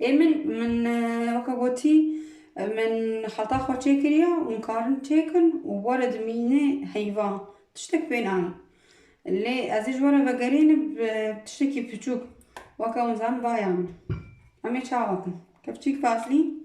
Ê min, min weke gotî, min xeta xwe çêkiriya û min karin çêkin û were dimîne heyva, tiştek pê nayê. Lê ez ê ji were vegerênim bi tiştekî piçûk, weke winzan baya min. Em ê çawa bikin? Kepçîk vaslîn.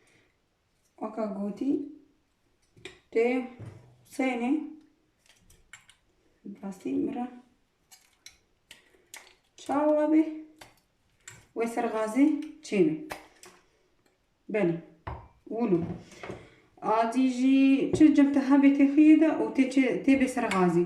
Waka gotî tê Husênê rastî min re çawa bê wê ser xazê çêne. Belê wilo adî jî çi cem te hebê tê xiyê de û tê bê ser xazî.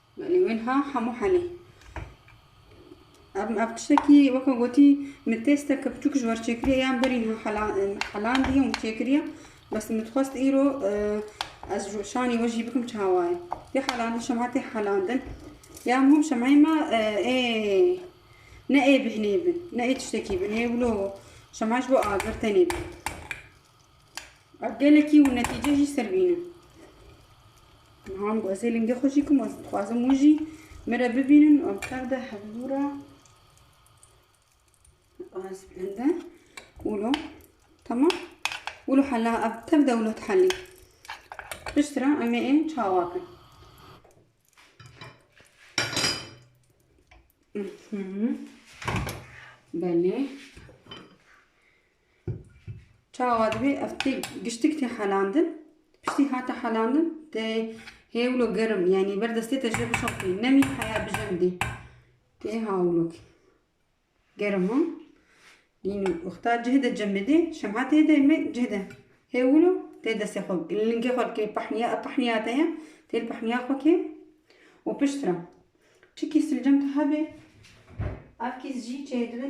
Belê wiha hemû helê. Ev ev tiştekî weke gotî min têsteke biçûk ji wer çêkiriye yan berî niha hela helandiye û min çêkiriye bes min dixwest îro ez ji şanî we jî bikim çawa ye tê helandin şemha tê helandin ya hûm şemheyê me ê ne ê bihinê bin ne ê tiştekî bin ê wilo şemha ji bo agir tenê bin Ev gelekî û netîce jî ser bîne. Niha em guhezê lingê xwe jî kim ez dixwazim wî jî min re bibînin û em tev de hevlû re ez bilinde wilo tamam wilo hela ev tev de wilo dihelî pişt re em ê çawa kin Belê. Çawa divê ev tê giştik tê helandin. Piştî hate helandin tê hêwlo gerim yanî ber destê te jê bişopî nemî heya bijim dî. Tê hawlok. Gerim o. Dîn uxta cih de cim bidê. Şemha tê de me cih de. Hêwlo tê destê xwe. Lingê xwe dikê pehniya e pehniya te ye. Tê pehniya xwe kê û piştre. Çi kî silcem te hebê ev kî jî çêdibe.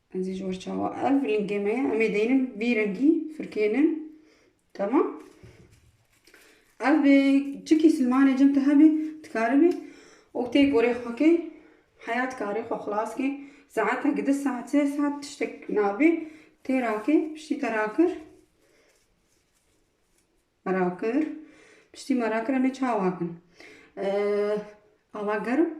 Ez ê ji we çawa. Ev lingê me ye. Em ê deynin vî rengî firkênin. Tamam. Ev bê çikî silmanê cem te hebê dikaribê û tê gorê xwe kê. Heya dikarê xwe xilas kê. Saetek di saet sê saet tiştek nabê. Tê rakê piştî te rakir. Me rakir. Piştî me rakir em ê çawa kin. Ava gerim